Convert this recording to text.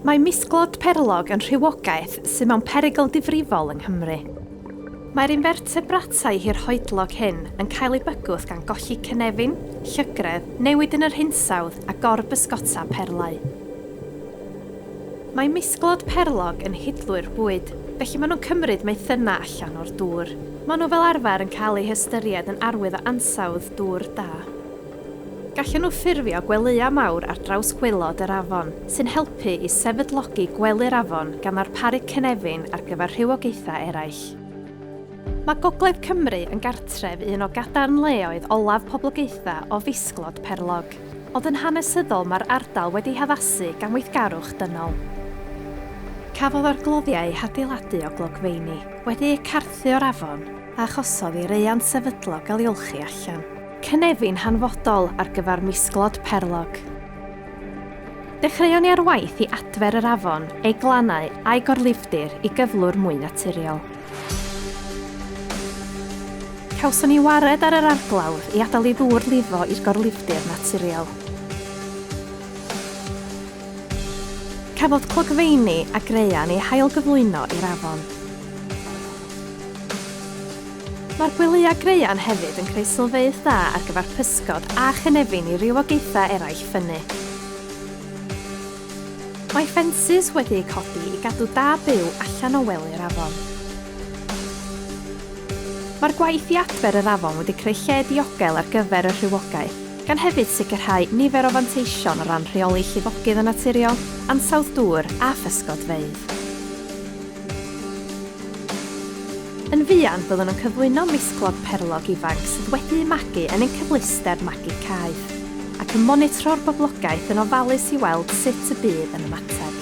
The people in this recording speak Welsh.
Mae misglod perlog yn rhywogaeth sydd mewn perygl difrifol yng Nghymru. Mae'r infertebratau hirhoedlog hyn yn cael eu bygwth gan golli cynefin, llygredd, newid yn yr hinsawdd a gor-bysgota perlau. Mae misglod perlog yn hidlwyr bwyd, felly maen nhw'n cymryd maethynnau allan o'r dŵr. Maen nhw fel arfer yn cael eu hystyried yn arwydd o ansawdd dŵr da. Gallen nhw ffurfio gwelyau mawr ar draws gwaelod yr afon, sy'n helpu i sefydlogi gwely'r afon gan ddarparu cynefin ar gyfer rhywogaethau eraill. Mae Gogledd Cymru yn gartref i un o gadarnleoedd olaf poblogaethau o fisglod perlog, ond yn hanesyddol mae'r ardal wedi'i haddasu gan weithgarwch dynol. Cafodd o'r gloddiau eu hadeiladu o glogfeini wedi'u carthu o'r afon a achosodd i raeant sefydlog gael ei olchi allan. Cynefin hanfodol ar gyfer misglod perlog. Dechreuon ni ar waith i adfer yr afon, ei glannau a'i gorlifdir i gyflwr mwy naturiol. Cawson ni wared ar yr arglawdd i adael i ddŵr lifo i'r gorlifdir naturiol. Cafodd clogfeini a graean eu hailgyflwyno i'r afon. Mae'r gwyliau graean hefyd yn creu sylfaenw dda ar gyfer pysgod a chynefin i rywogaethau eraill ffynnu. Mae ffensys wedi eu codi i gadw da byw allan o wely'r afon. Mae'r gwaith i adfer yr afon wedi creu lle diogel ar gyfer y rhywogaeth, gan hefyd sicrhau nifer o fanteision o ran rheoli llifogydd yn naturiol, ansawdd dŵr a physgodfeydd. Yn fuan byddwn yn cyflwyno misglog perlog ifanc sydd wedi'u magu yn ein cyfleuster magu caeth, ac yn monitro'r boblogaeth yn ofalus i weld sut y bydd yn ymateb.